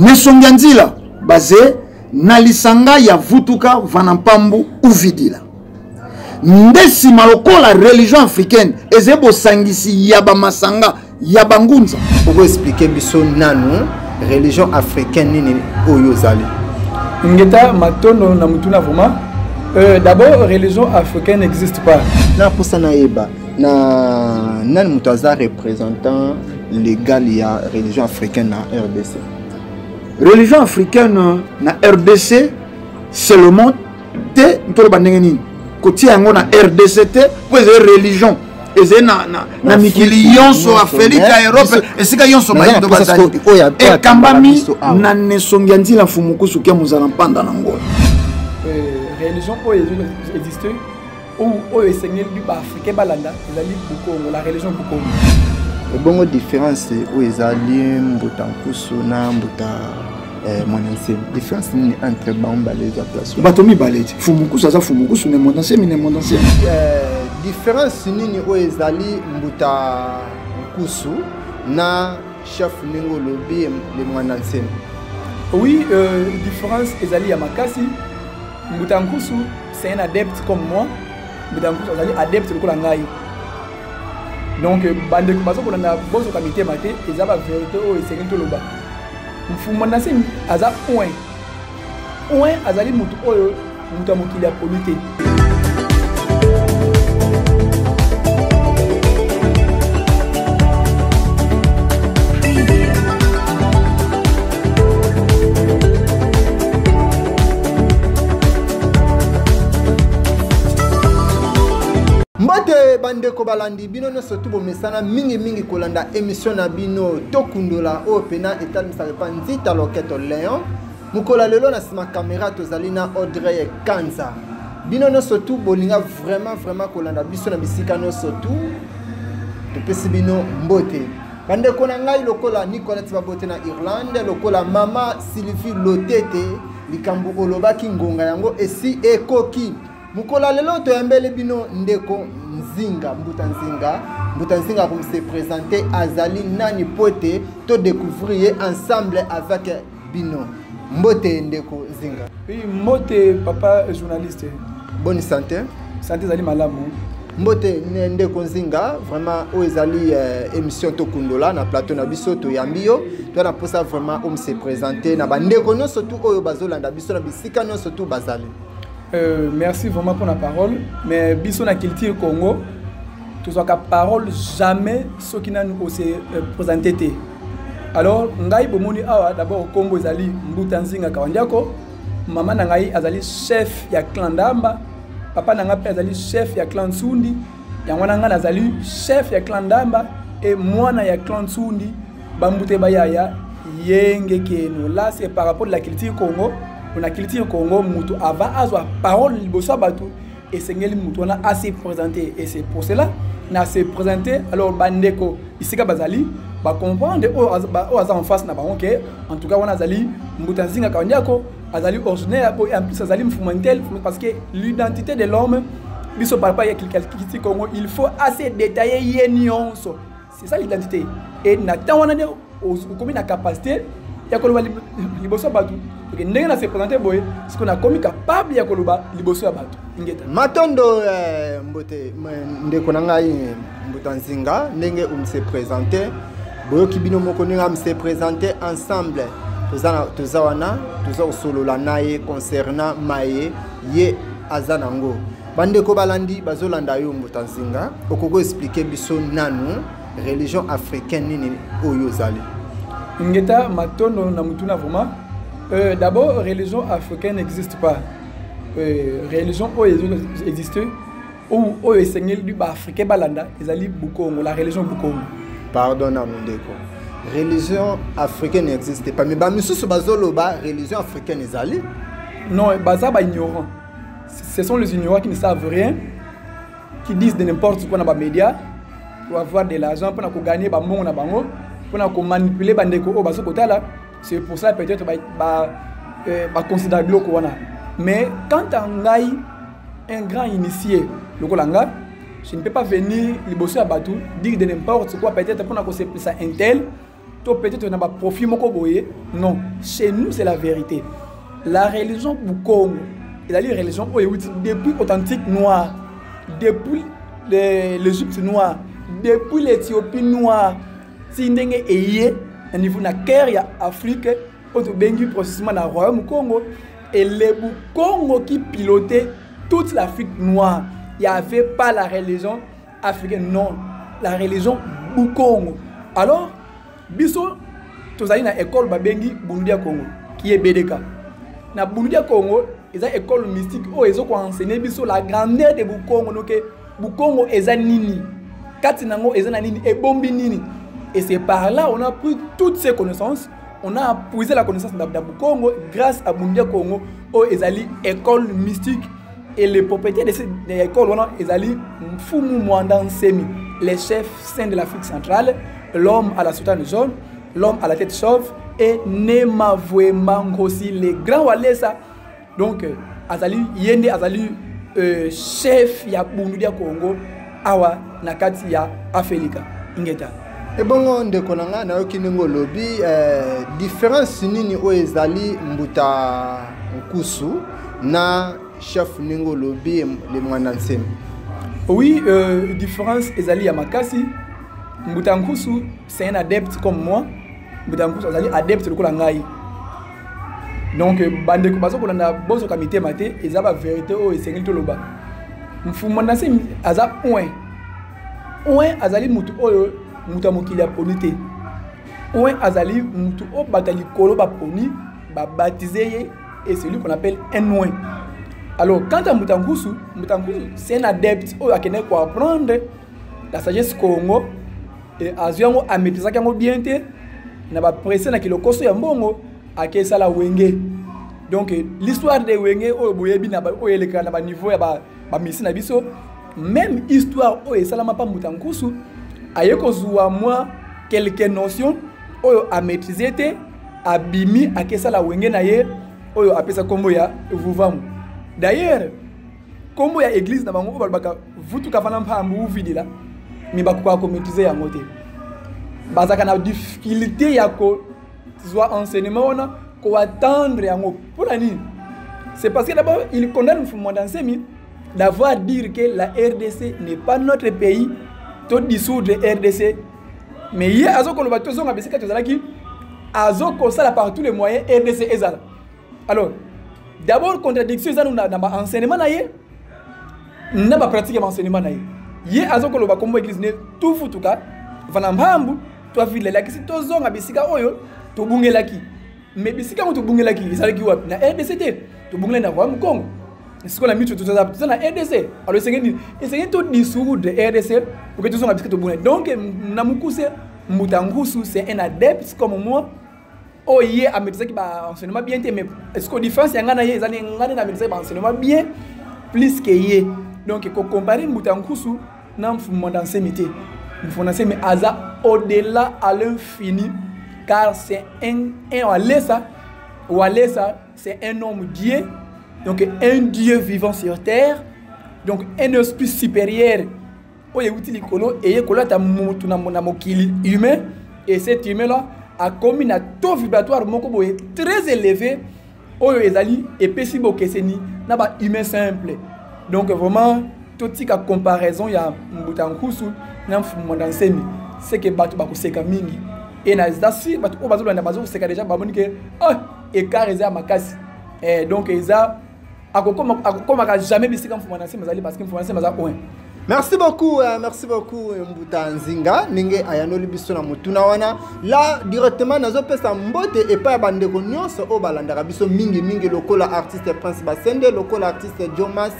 Mesongi ya nzila baze na lisanga ya vutuka vana mpambu uvidila nde nsima lokola religion africaine ezali bosangisi ya bamasanga ya bangunza okoexplike biso nanu religion africaine nini oyo ozali ngeta matondo na motuna vraiment euh, d'abord religion africaine n'existe pas naposa nayeba na nani moto aza représentant legal ya religion africaine na rdc religion africaine euh, na rdc seulement te ntoloba ndenge nini kotia yango na rdc te mpo ezali religion ezali na, na, na mikili yonso afrika ya europe esika yonso bayindo bazali ekambami na nesongi ya nzila mfumukusuki ya mozala mpanda na ngola euh, religion oyo existe oyo esengeli ba africain balanda ezali bukongo la religion bukongo ebongo différence oyo ezali mbuta nkusu na mbuta eh, mwana nsemi différence nini entre bango mibale eza place bato mibale ti fumu nkusu aza fumu nkusu ne mwana nsemi ne mwana nsemi eh, différence nini oyo ezali mbuta nkusu na chef ndenge olobi le mwana nsemi oui euh, différence ezali ya makasi Mbuta Nkusu, c'est un adepte comme moi. Mbuta Nkusu azali adepte lokola ngai. Donc bandeko bazo kolanda bozo ka mitema te, eza ba verité oyo esengeli toloba. Mfumba na semi aza point. Point azali mutu oyo mutu ya mokili ya poli te. mbote bandeko balandi bino nyonso tu bomesana mingimingi kolanda emisio na bino tokundola oyo mpena etalisaka epa nzita loketo leon mokolo ya lelo na nsima kamera tozali na audrey kanza bino nyonso tu bolinga vraiment vraiment kolanda biso na bisika nyonso tu topesi bino mbote bandeko na ngai lokola nicolette babote na irlande lokola mama sylvie lotete likambo olobaki ngonga yango esi ekoki mokola lelo toyambeli bino ndeko nzinga mbuta nzinga mbuta nzinga akomse présente azali nani mpo ete todecouvrir ye ensemble avec bino mbote ndeko zinga oui mbote papa journaliste bonne santé santé ezali malamu mbote ndeko nzinga vraiment oyo ezali euh, émission tokundola na plateau na biso toyambi yo to na mposa vraiment omi se présente na bandeko nyonso tu oyo bazolanda biso na bisika nyonso tu bazali euh, merci vraiment mpona parole mais biso na culture congo tozwaka parole jamais soki nanu ose euh, présente te alors ngai bomoni awa d'abord nkombo ezali mbuta nzinga kawandiako mama na ngai azali chef ya clan ndamba papa na ngai mpe azali chef ya clan nsundi yango wana ngai nazali chef ya clan ndamba e mwana ya clan nsundi bambute bayaya yenge keno la c'est par rapport de la culture congo pona culture congo moto ava azwa parole liboso ya bato esengeli moto wana asi présente et c'est pour cela na se présente alors bandeko bisika bazali bacomprendre oyo oh, aza oh, en face na bango ke en tout cas wana azali mbuta nzinga kandiako azali originaire po en plus azali mfumantel parce que l'identité de l'homme biso par rapport ya kilkilkiti congo il faut assez détailler ye nyonso c'est ça l'identité et na temps wana nde okomi na capacité ya koloba liboso ya bato oke ndenge na se présente boye siko nakomi capable ya koloba liboso ya bato ingeta matondo eh, mbote ndeko na ngai mbuta nzinga ndenge omse présente boyoki bino moko ndenge amse présente ensemble toza wana toza kosolola na ye concernant maye ye aza nango bandeko balandi bazolanda yo mbuta nzinga okoki koexplike biso nanu religion africaine nini oyo ozali ngeta matondo na motuna vraiment euh, d'abord religion africaine n'existe pas euh, religion oyo existe oyo esengeli baafricain balanda ezali bukongo la religion bukongo pardon na mondeko religion africaine n'existe pas mais bamisusu bazoloba religion africaine ezali non baza baignorant ce sont les ignorants qui ne savent rien qui disent de n'importe quoi na bamédia pour avoir de l'argent mpona kogagner bambongo na bango mpona komanipule bandeko oyo bazo kotala c'est pour ça peut-être baconsidère euh, biloko wana mais quant à ngai un grand initié lokola nga je ne peux pas venir liboso ya bato dire de n'importe quoi peut-être mpona kosepelisa intel to peut-être na ba profit moko boye non chez nous c'est la vérité la religion bukongo ezali religion oyo euti depuis authentique noir depuis l'égypte noir depuis l'éthiopie noir ti ndenge eye na niveau na cœur ya afrique oyo tobengi processement na royaume congo et le bukongo qui pilotait toute l'afrique noire il n'y avait pas la religion africaine non la religion bukongo alors biso tozali na école babengi bundu ya congo qui est bdk na bundu ya congo eza école mystique oyo ezo koenseigne biso la grandeur de bukongo noke bukongo eza nini kati na yango eza na nini ebombi nini et c'est par là on a pris toutes ces connaissances on a puise la connaissance na Bukongo grâce à Bundia Congo oyo ezali école mystique et le propriétaire de cette école wana ezali Mfumu Mwanda Nsemi les chefs saints de l'Afrique centrale l'homme à la soutane jaune l'homme à la tête chauve et Nema Vuemba Ngosi le grand Walesa donc euh, azali ye nde azali euh, chef ya bundudi ya congo awa na kati ya afelika ingeta ebongo ndeko na ngai nayoki ndenge olobi eh, différence nini oyo ezali mbuta nkusu na chef ndenge olobi le mwana nsemi oui euh, différence ezali ya makasi mbuta nkusu c'est un adepte comme moi mbuta nkusu azali adepte lokola ngai donc bandeko baza kolanda bozoka mitema te eza baverité oyo esengeli toloba mfuma nase aza oin oin azali motu oyo moto ya mokili aponi te oin azali motu oyo bato ya likolo baponi babatize ye et celui qu'on appelle un oin alors quant à moto ya nkusu moto ya nkusu c'est un adepte oyo akendaki koapprendre la sagesse congo e azwi yango ametrisaki yango bien te na bapresse na kilokoso ya mbongo ake esala wenge donc l'histoire de wenge oyo boyebi oyo elekaka na baniveau ya bamisi na biso même histoire oyo esalama mpa mbuta nkusu aye kozwa mwa quelque notion oyo amaîtrise te abimi akesala wenge na ye oyo apesa nkombo ya vuvamu d'ailleurs kombo ya eglise na bango oyo balobaka vutuka fana mpambu uvidila me bakokaka komaitrise yango te bazalaka na difficulté ya kozwa enseignement wana koatendre yango mpo na nini c'est parce que d'abord il condamne mfumu mwanda nsemi d'avoir dire que la rdc n'est pas notre pays to dissoudre rdc mais ye azokoloba tozonga bisika tozalaki azokosala par tous les moyens rdc ezala alors d'abord contradiction eza na, na baenseignement na ye na bapratique ya baenseignement na ye ye azokoloba kombo eglise ne tufutuka vana mpambu twavile elakisi tozonga bisika oyo tobungelaki me bisika yango tobungelaki ezalaki wapi na rdc te tobungelaki na royaume congo sikoyo na miso toza na rdc alo esenge nini esenge todissoudre rdc oke tozonga bisika tobungelaki donc na mokuse mbuta ngusu c'est un adepte comme moi oyo oh, ye amedisaki baenseignement bien te mais siko différence ya ngai na ye ezali ngai nde namedisaki baenseignement bien plus ke ye donc kocompare mbuta ya nkusu na mfumanda nsemi te mfumanda nsemi aza au-delà à l'infini car c'est un, un walesa walesa c'est un homme dieu donc un dieu vivant sur terre donc un esprit supérieur oyo euti likolo eye kolata mutu na mokili humain et cet humain là akomi na taux vibratoire moko boye très élevé oyo ezali epesi bokeseni na ba humain simple donc vraiment totika comparaison ya mbuta nkusu na mfumu mwanda nsemi seke bato bakoseka mingi e naza sur bato oyo bazolanda bazokoseka deja bamoni ke oh, écart eza ya makasi eh, donc eza akokoma akokomaka jamais bisika mfuma na nsima azali parce que mfuma na nsima aza oin merci beaucoup euh, merci beaucoup euh, mbuta nzinga ndenge ayanoli biso na motuna wana la directement nazopesa mbote epai ya bandeko nyonso oyo balandaka biso mingimingi lokola artiste prince basende lokola artiste jomas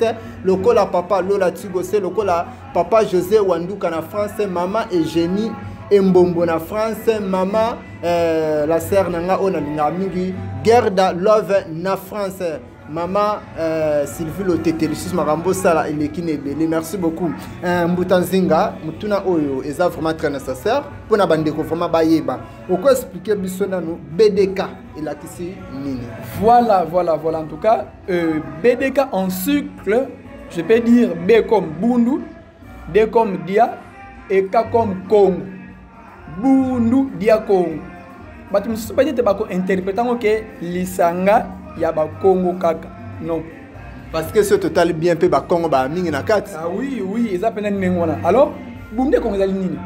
lokola papa lola tigose lokola papa josé wanduka na france mama egénie embombo na france mama euh, la sere na ngai oyo nalingaka mingi gerda love na france Maman euh, Sylvie Lotete lisusu makambo osala eleki na ebele merci beaucoup euh, mbuta nzinga motuna oyo eza vraiment très nécessaire mpo na bandeko vraiment bayeba oko explike biso nanu bdk elakisi nini voilà voilà voilà en tout cas euh, bdk en cycle je peux dire b comme bundu de comme dia eka comme congo bundu dia congo bato mosusu bani ete bakointerprete yango ke lisanga ya bakongo kaka non parce que soki totali bien mpe bakongo baa mingi na kati ah, oui oui eza mpena ndenge wana alors bunde kongo ezali nini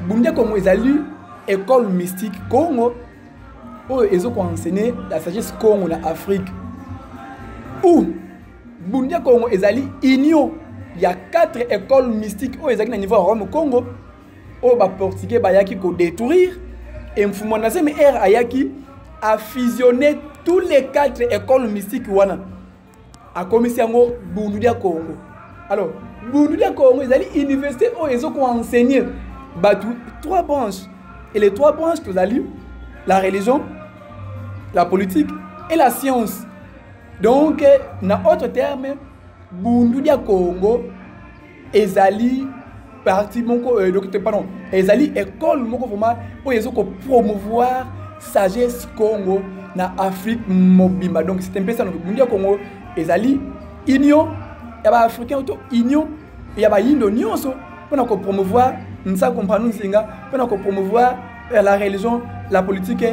bunde kongo ezali école mystique congo oyo ezokoenseigne la sagesse congo na afrique ou Bundia Congo ezali union ya quatre écoles mystiques oyo ezalaki na niveau ya Rome Congo oyo ba portugais bayaki ko détruire et Mfumwa na zemi ère ayaki a fusionner tous les quatre écoles mystiques wana akomisi yango bundu dia Congo alors bundu dia Congo ezali université oyo ezo ko enseigner bato trois branches et les trois branches tozali la religion la politique et la science donc na autre terme bundu dia congo ezali parti moko euh, donc pardon ezali école moko vraiment oyo ezo ko promouvoir sagesse congo na afrique mobimba donc c'est un peu ça donc bundu ya congo ezali union ya ba africain to union ya bayindo nyonso mpo na kopromouvoir nsako mpanu nsinga mpo na kopromouvoir euh, la religion la politique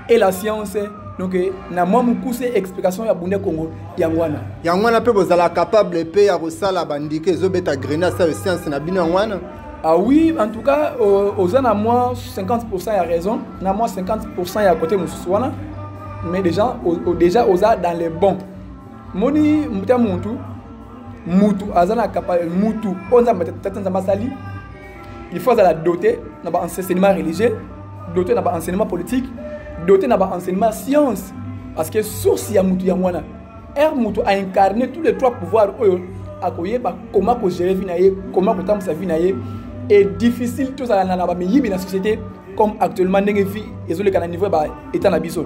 et la science donc eh, na mwa mokuse explication ya bunde congo yango wana yango wana mpe bozala capable mpe ya kosala bandike ezobeta grenade sayo science na bino yango wana Ah oui, en tout cas, euh, aux en à moins 50% à raison, à moins 50% à côté Moussouana, mais déjà, au, déjà aux dans les bons. moni mbuta mutu mutu aza na mutu oyo nzambe tata nzambe asali il faut azala doté na baenseignement religieux doté na baenseignement politique doté na baenseignement science parce que source ya mutu yango wana ere mutu aincarne tous les trois pouvoirs oyo akoyeba koma kogere vi na ye koma kotambwisa vi na ye e difficile tozala na bamiyibi na société comme actuellement ndenge vi ezoleka na niveau ya baetat na biso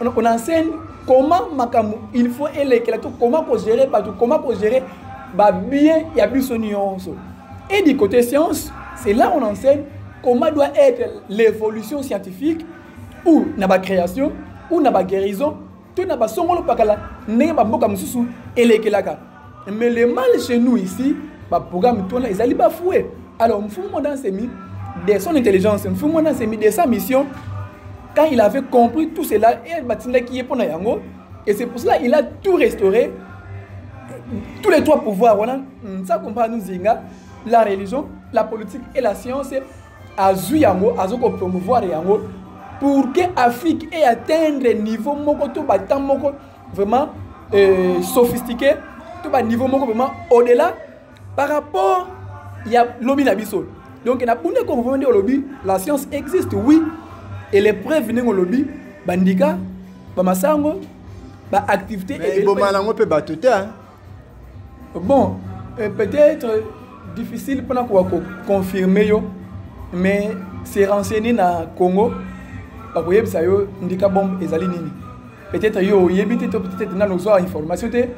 on enseigne comment makambo il faut elekela to comment kogere bato comment kogere babien ya biso nyonso et du côté science c'est là on enseigne comment doit être l'évolution scientifique ou na bacréation ou na baguérison to na basongolo pakala ndenge bamboka mosusu elekelaka mais le mal chez nous ici baprogramme tona ezali bafoue alors mfumu mwana asemi de son intelligence mfumu mwana asemi de sa mission quand il avait compris tout cela et batindaki ye mpo na yango et c'est pour cela il a tout restauré tous les trois pouvoirs wana nsa kompa nu zinga la religion la politique et la science azwi yango azo kopromouvoir yango pour que afrique e atteindre niveau moko to batan moko vraiment euh, sophistiqué to ba niveau moko vraiment au delà par rapport ya lobi na biso donc na bunda ko vraiment ndenge olobi la science existe oui et les preuves ndenge olobi bandika bamasango baactivité ebomala yango mpe bato te bon euh, peut-être difficile mpona koka koconfirme yo mais se renseigner na congo bakoyebisa yo ndika bombe ezali nini peut-être yo oyebi te to peut-être nano ozwa information te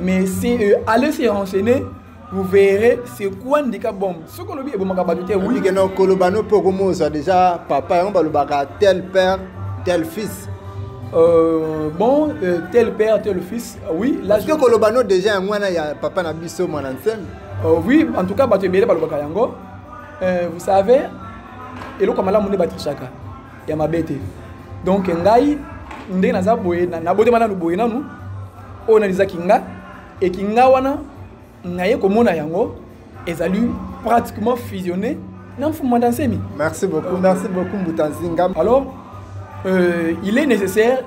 mais si euh, allez se renseigner vous verrez c'est quoi ndika bombe soki olobi ebomaka bato te wikena okoloba no mpe okomozwa déjà papa yango balobaka tel père tel fils euh, bon euh, tel père tel fils Ah oui, là je koloba no déjà yango wana ya papa na biso mwana nsem. Oh oui, en tout cas bato ebele balobaka yango. Euh, vous savez, eloko malamu nde batrichaka ya mabe te. Donc ngai ndenge naza boye nabotema nanu boye nanu oyo nalizaki nga ekinga wana naye komona yango ezali pratiquement fusionné na mfumu mwanda nsemi merci beaucoup merci beaucoup mbuta nzinga alors euh, il est nécessaire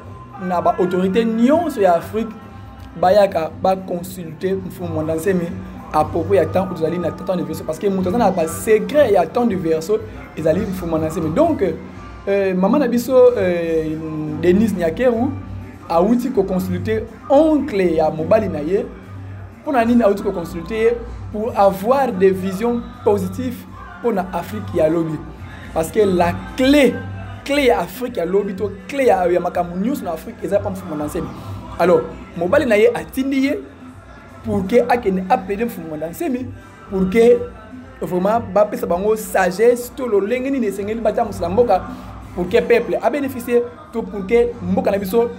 na baautorité nyonso ya afrique bayaka baconsulte mfumu mwanda nsemi à propos ya temps tozali na temps de verso parce que moto aza na basecret ya temps de verso ezali mfumu mwanda nsemi donc euh, mama na biso euh, denise nyakeru awuti koconsulte oncle ya mobali na ye mpo na nini awuti koconsulte ye pour avoir des visions positives mpo na afrique ya lobi parce que la clé clé ya afrique ya lobi to clé ya, ya makambo nyonso na afrique eza mpa mfumu na nsemi alors mobali na ye atindi ye pour ke akende aplaide mfumu na nsemi pour que vraiment bapesa bango sagesse to lolenge nini esengeli batambwisela mboka pour que peuple abénéficie to pour que mboka na biso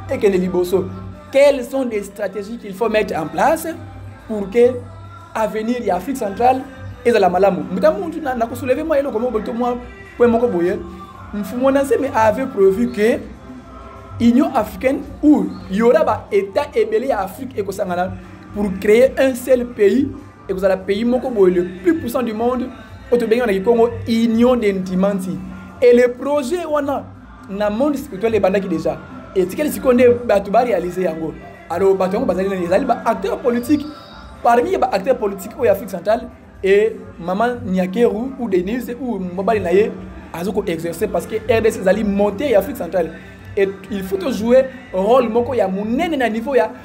ekende liboso quelles sont les stratégies qu'il faut mettre en place pour que avenir ya afrique centrale ezala malamu mbuta muntu nakosouleve mwa eloko moko to mwa point moko boye mfumo na nsemi avait prévu que union africaine où il y aura ba état ebele ya afrique ekosangana pour créer un seul pays ekozala pays moko boye le plus puissant du monde oyo tobengi na kikongo union de ntimanti et le projet wana na monde spirituel ebandaki déjà etikali sikoyo nde bato barealize yango alors bato yango bazali nani ezali baacteur politique parmi baacteur politique oyo ya afrique centrale e mama niakeru ou denise ou mobali na ye azo koexerce parce que rdc ezali monte ya afrique centrale et il faut tojoue rôle moko ya monene na niveau ya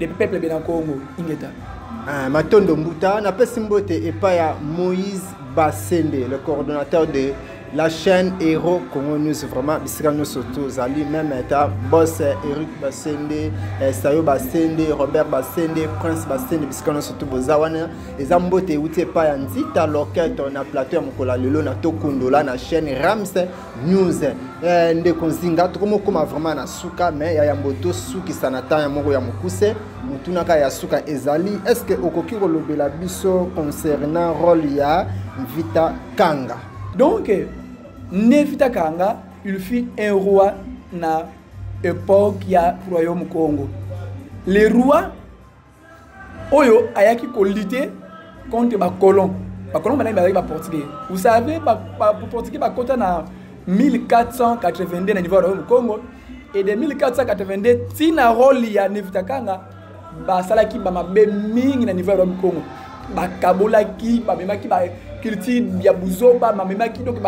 le peuple bena congo ingeta ah, matondo mbuta napesi mbote epai ya moïse basende le coordonnateur de la chaîne héros congo news vraiment bisika nyonso tozali meme ata bos eric basende eh, sayo basende robert basende prince basende bisika nyonso to boza wana eza mbote euti epai ya nzita loketo na plateau ya mokolo ya lelo na tokundola na chaîne rams news eh, ndeko nzinga tokomokoma vraiment na suka me ya yambo tosukisa na temps ya moko ya mokuse motunaka ya suka ezali est ce que okoki kolobela biso concernant role ya vita kanga donc ne vita kanga il fut un roi na époque ya royaume congo le roi oyo ayaki kolite contre bacolon bacolon banani bazalaki baportugais vous savez baportugais bakota na 1482 na niveau ya royaume congo et de 1482 ntina role ya nevitakanga basalaki bamabe mingi na niveau ya royaume congo bakabolaki bamemaki ba culture ya buzoba bamemaki donc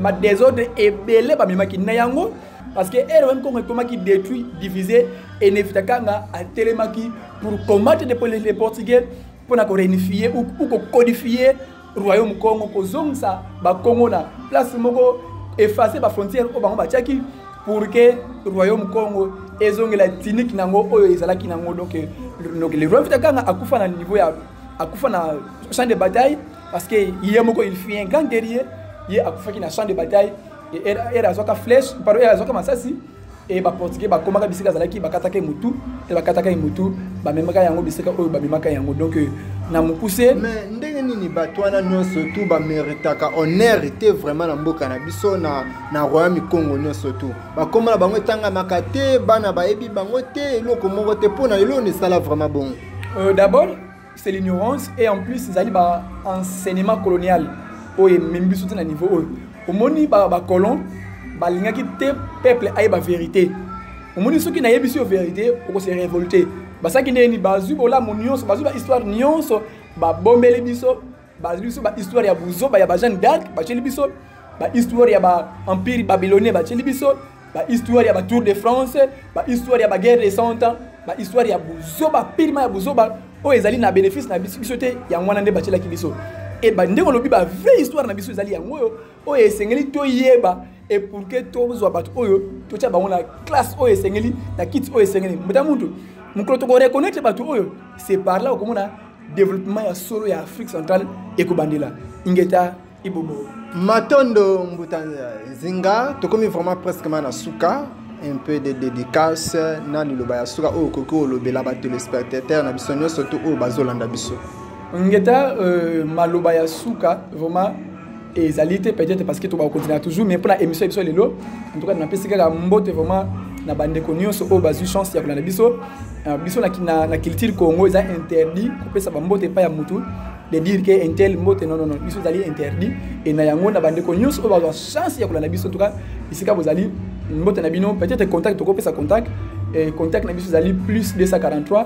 badesordre ebele bamemaki na yango ba parce que ere wami kongo ekomaki détruit divisé et nevita kanga atelemaki pour combattre les portugais mpo na koréunifie ou kokodifie royaume congo kozongisa bakongo na place moko efface bafrontière oyo bango batiaki pour que royaume congo ezongela tiniki nango oyo ezalaki nango donc le roi vita kanga akufa na niveau ya akufa na champ de bataille parce que ye moko il fut un grand guerrier ye akufaki na champ de bataille ere azwaka flèche pardon ere azwaka masasi e baportugais bakomaka bisika azalaki bakataka ye motu te bakataka ye motu bamemaka yango bisika oyo bamemaka yango donc euh, na mokuse mais ndenge nini bato wana nyonso tu bameritaka honneur te vraiment na mboka na biso na, na royaume congo nyonso tu bakoma na bango etangamaka te bana bayebi bango te eloko moko te mpo na eloko na esala vraiment bongo euh, d'abord c'est l'ignorance et en plus ezali ba enseignement colonial oyo ememi biso te na niveau oyo omoni bacolon balingaki te peuple ayeba vérité omoni soki nayebisi yo vérité okose révolte basaki ndeni bazwi bolamu nyonso bazwi bahistoire nyonso babombeli biso bazwi biso bahistoire ya buzoba ya bajeanne d'arc batyeli biso bahistoire ya baempire babylonien batyeli biso bahistoire ya batour de france bahistoire ya baguerre de cent ans bahistoire ya buzoba pirima ya buzoba oyo ezali na bénéfice na biso te yango wana nde batyelaki biso e ndenge olobi bavrai histoire na biso ezali yango oyo oyo esengeli toyeba e pour que tozwa bato oyo totya bango na classe oyo esengeli na kiti oyo esengeli mbota mutu mokolo tokoreconnaitre bato oyo c'est par là okomona développement ya solo ya afrique centrale ekobandela ingeta ibobo matondo mbuta nzinga tokomi vraiment presque ma na suka un peu de dédicace na liloba ya suka oyo okoki olobela batelespectateur na biso nyonso to oyo bazolanda biso ngeta euh, maloba ya suka vraiment ezali te peut-être parce que tobaka kokontina toujours mais mpona émission ya biso lelo entouka napesi kaka mbote vraiment na bandeko nyonso oyo bazwi chance ya kolanda biso euh, biso na culture congo eza interdit kopesa bambote epai ya motu de dire que intel mbote non non biso ezali interdit et na yango na bandeko nyonso oyo bazwa chance ya kolanda biso entouka esika bozali mbote na bino peut-être contact tokopesa contact contact na biso ezali plus 243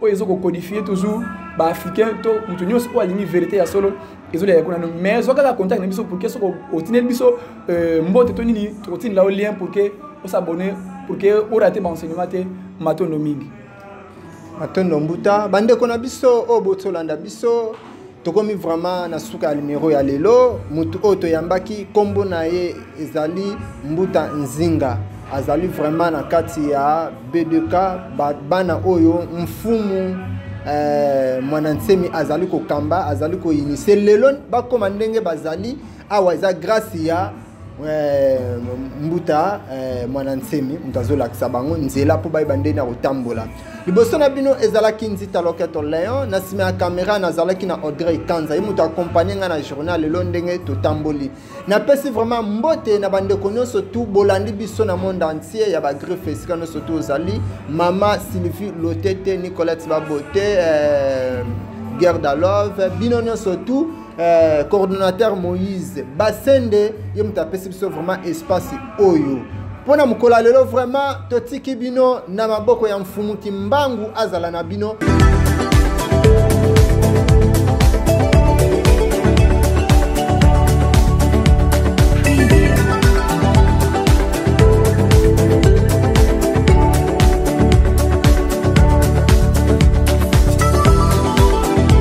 oyo ezo kokodifie toujours baafricain to moto nyonso oyo alingi verité ya solo ezolia ya kuna no mais zwa kaka contact na biso pour ke soko otineli biso euh, mbote to nini tokotinela yo lien pour ke osabonne pour ke orate baenseignement te matondo mingi matondo mbuta bandeko na biso oyo botolanda biso tokomi vraiment na suka ya numero ya lelo motu oyo toyambaki nkombo na ye ezali mbuta nzinga azali vraiment na kati ya b2k bana oyo mfumu eh, mwana nsemi azali kokamba azali koinise lelo bakoma ndenge bazali awa eza grâce ya euh, mbuta euh, mwana nsemi moto azolakisa bango nzela mpo bayeba ndenge ya kotambola liboso na bino ezalaki nzita loketo leon na nsima ya kamera nazalaki na audrey kanza ye moto akompagne ngai na journal lelo ndenge totamboli napesi vraiment mbote na bandeko nyonso tu bolandi biso na monde entier ya bagriffe esika nyonso tu ozali mama sylvie lotete nicolette babote euh, guerre dalove bino nyonso tu Euh, coordonnateur moïse basende ye moto apesi biso vraiment espace oyo mpo na mokolo ya lelo vraiment totiki bino na maboko ya mfumu kimbangu azala na bino